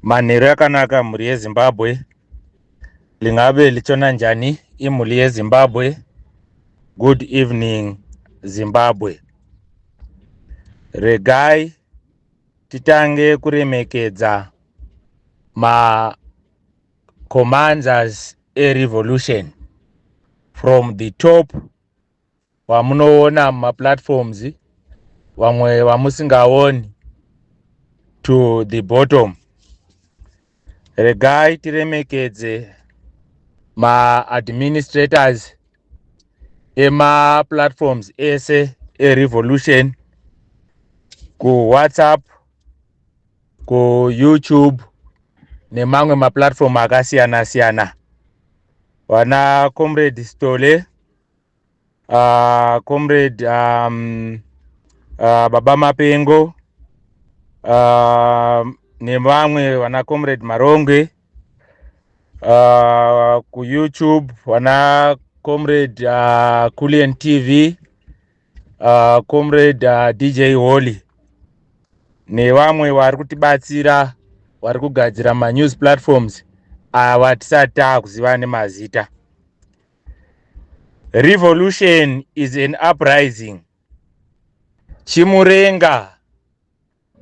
Manheru yakanaka mhuri yeZimbabwe lingabe lichona njani imhuri yeZimbabwe good evening Zimbabwe regai titange kuremekedza ma commanders erevolution from the top vamunoona mumaplatforms vamwe vamusingaoni to the bottom regai tiremekedze maadministrators emaplatforms ese erevolution kuwhatsapp kuyoutube nemamwe maplatform akasiyana siyana vana comrade stole uh, comrade um, uh, baba mapengo uh, nevamwe vana comrade maronge uh, kuyoutube vana comrade uh, kulian tv uh, comrade uh, dj holy nevamwe vari kutibatsira vari kugadzira manews platforms ava tisati taakuziva nemazita revolution is an uprising chimurenga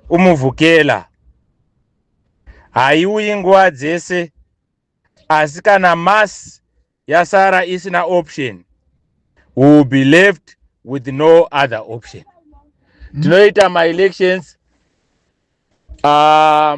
umuvhukela haiuyi nguva dzese asi kana mass yasara isina option we will be left with no other option tinoita maelections uh,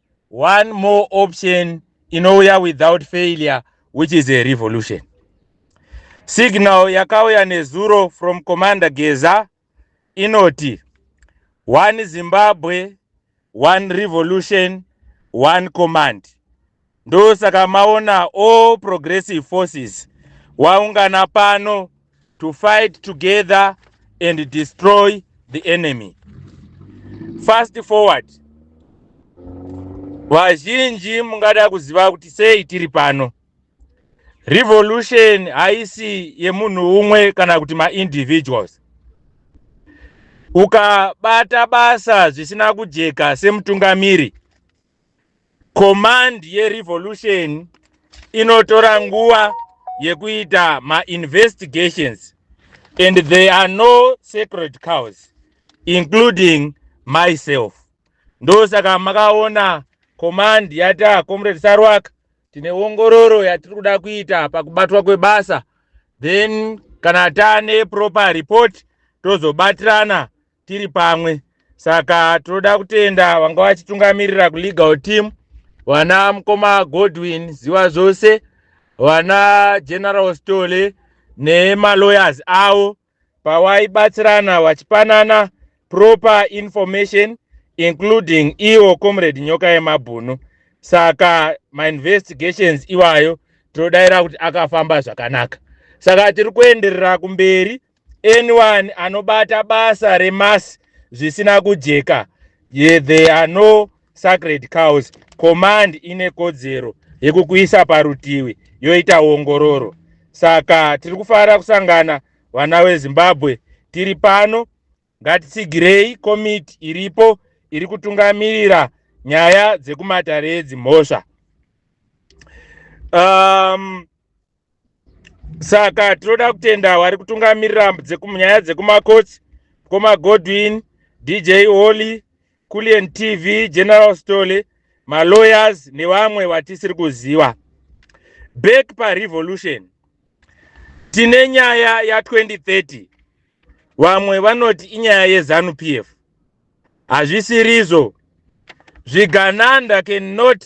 one more option inouya without failure which is a revolution signal yakauya nezuro from commander geza inoti one zimbabwe one revolution one command ndosaka maona all progressive forces waungana pano to fight together and destroy the enemy fast forward vazhinji mungada kuziva kuti sei tiri pano revolution haisi yemunhu umwe kana kuti maindividuals ukabata basa zvisina kujeka semutungamiri Command yeRevolution inotora nguva yekuita mainvestigations and there are no sacred cows including myself ndosaka makaona command yata comrade sarwak tine ongororo yatiri kuda kuita pakubatwa kwebasa then kana tane proper report tozobatirana tiri pamwe saka tinoda kutenda vanga vachitungamirira kulegal team vana mukoma godwin ziva zvose vana general stole nemalawyers avo pavaibatsirana vachipanana proper information including iwo comrade nyoka yemabhunu saka mainvestigations iwayo tinodaira kuti akafamba zvakanaka saka tiri kuenderera kumberi anyone anobata basa remas zvisina kujeka yeah, there are no sacred cows command ine kodzero yekukuisa parutivi yoita ongororo saka tiri kufanira kusangana vana vezimbabwe tiri pano ngatitsigirei komiti iripo iri kutungamirira nyaya dzekumatare edzimhosva um, saka tinoda kutenda vari kutungamirira nyaya dzekumakotsi mukoma godwin dj holy culien tv general story malawyers nevamwe vatisiri kuziva back parevolution tine nyaya ya 2030 vamwe vanoti inyaya yezanu p f hazvisirizvo zvigananda cannot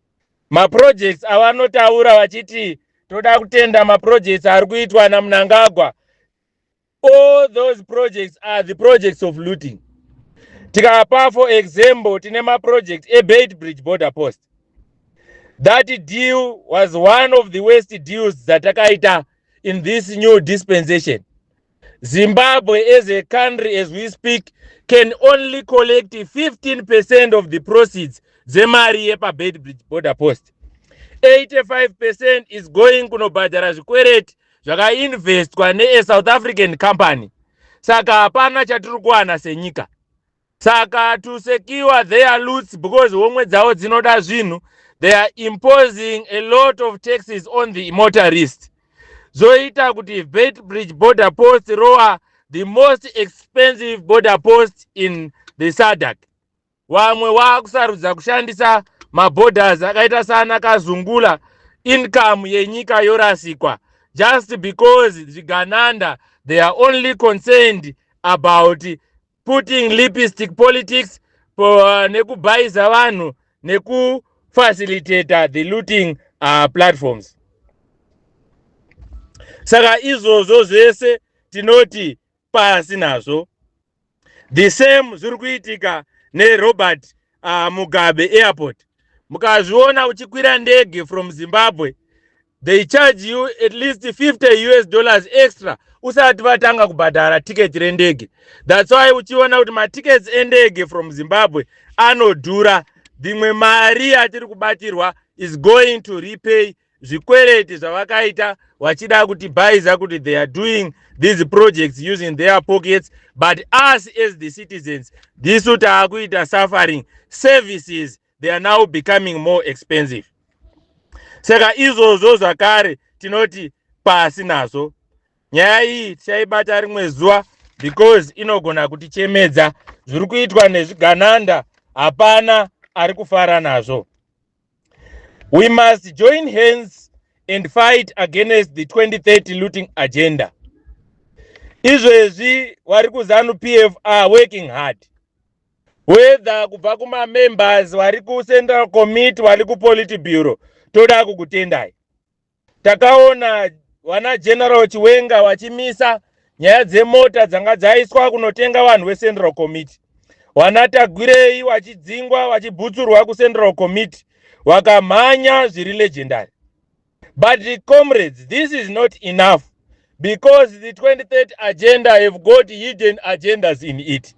Maprojects avanotaura vachiti toda kutenda maprojects ari kuitwa namunangagwa all those projects are the projects of looting tikapa for example tine maproject ebait bridge border post that deal was one of the worst deals dzatakaita in this new dispensation Zimbabwe as a country as we speak can only collect 15% of the proceeds dzemari yepabeitbridge border post 85% is going kunobhadhara zvikwereti zvakainvestwa neasouth african company saka hapana chatiri kuwana senyika Saka to secure their loots because homwe dzavo dzinoda zvinhu they are imposing a lot of taxes on the motorist zvoita kuti Beitbridge border post rowa the most expensive border post in the SADC wamwe wakusarudza kushandisa maborders akaita sana kazungula income yenyika yorasikwa just because zvigananda they are only concerned about putting lipstick politics uh, nekubhaiza vanhu nekufacilitator the looting uh, platforms saka izvozvo zvese tinoti pasi nazvo the same zviri kuitika nerobert uh, mugabe airport mukazviona uchikwira ndege from zimbabwe they charge you at least 50 us dollars extra usati vatanga kubhadhara tiketi rendege thats why uchiona kuti matickets endege from zimbabwe anodhura dzimwe mari yatiri kubatirwa is going to repay zvikwereti zvavakaita vachida kutibhaiza kuti they are doing these projects using their pockets but us as the citizens ndisu taakuita suffering services they are now becoming more expensive saka izvozvo zvakare tinoti pasi nazvo nyaya iyi tichaibata rimwe zuva because inogona kutichemedza zviri kuitwa nezvigananda hapana ari kufara nazvo We must join hands and fight against the 2030 looting agenda. Izvezvi wari kuzanu PF are working hard. Whether kubva kuma members wari ku central committee wari ku polity bureau toda kukutendai. takaona vana general chiwenga vachimisa nyaya dzemota dzanga dzaiswa kunotenga vanhu vecentral committee vana tagwirei vachidzingwa vachibhutsurwa kucentral committee vakamhanya zviri legendary but the comrades this is not enough because the 23rd agenda have got hidden agendas in it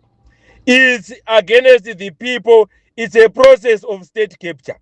it's against the people it's a process of state capture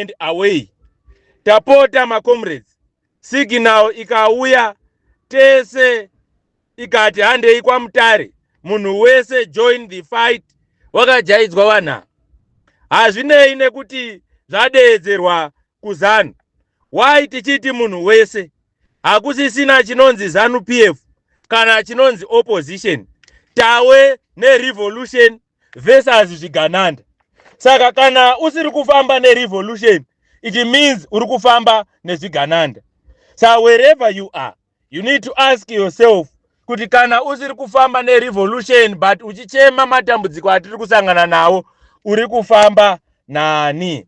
and away tapota macomrades signal ikauya tese ikati handei kwamutare munhu wese join the fight wakajaidzwa vanha hazvinei nekuti zvadeedzerwa kuzanu why tichiti munhu wese hakusisina chinonzi zanu p f kana chinonzi opposition tawe nerevolution versus zvigananda saka kana usiri kufamba nerevolution it means uri kufamba nezvigananda sa wherever you are you need to ask yourself kuti kana usiri kufamba nerevolution but uchichema matambudziko atiri kusangana nawo uri kufamba nani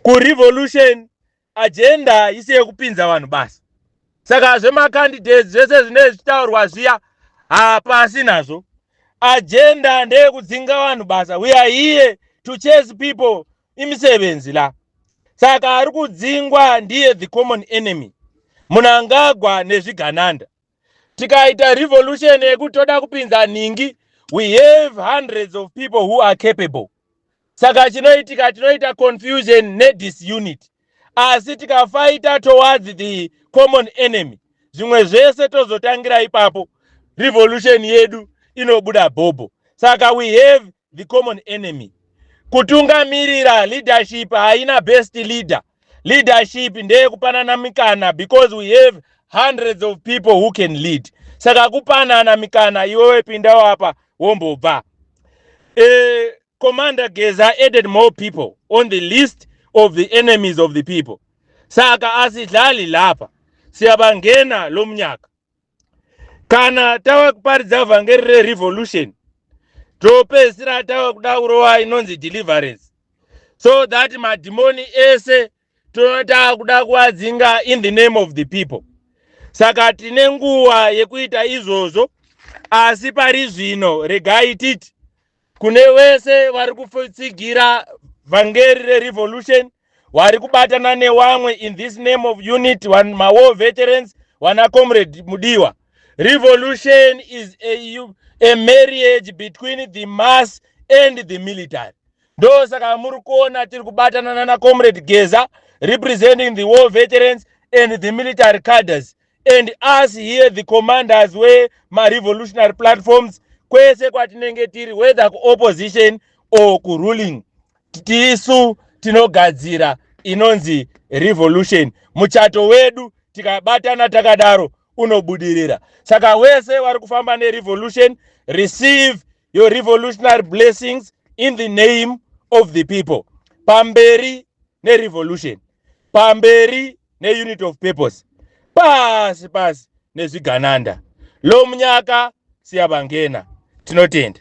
kurevolution agenda haisi yekupinza vanhu basa saka zvemacandidates zvese zvinee zvichitaurwa zviya hapasi nazvo agenda ndeyekudzinga vanhu basa we are here to chase people imisebenzi la saka ari kudzingwa ndiye the common enemy munangagwa nezvigananda tikaita revolution yekuti toda kupinza nhingi we have hundreds of people who are capable saka chinoitika tinoita confusion nedisunit asi tikafaita towards the common enemy zvimwe zvese tozotangira ipapo revolution yedu inobuda bhobho saka we have the common enemy kutungamirira leadership haina best leader leadership ndeyekupanana mikana because we have hundreds of people who can lead saka kupanana mikana iwewe pinda wapa wombobva uh, commander geza added more people on the list of the enemies of the people saka asidlali lapa siyabangena lomnyaka kana tava kuparidza vhangeri rerevolution topedzisira tava kuda kurova inonzi deliverance so that madhimoni ese tinotava kuda kuadzinga in the name of the people saka tine nguva yekuita izvozvo asi pari zvino regai titi kune vese vari kutsigira vhangeri rerevolution wari kubatana newamwe in this name of unit one mawar veterans wana comrade mudiwa revolution is a, a marriage between the mass and the military ndo saka muri kuona tiri kubatana nana comrade geza representing the war veterans and the military caders and us here the commanders wemarevolutionary platforms kwese kwatinenge tiri whether kuopposition or kuruling tisu tinogadzira inonzi revolution muchato wedu tikabatana takadaro unobudirira saka wese wari kufamba nerevolution receive your revolutionary blessings in the name of the people pamberi nerevolution pamberi neunit of purpose pasi pasi nezvigananda lomunyaka siyabangena tinotenda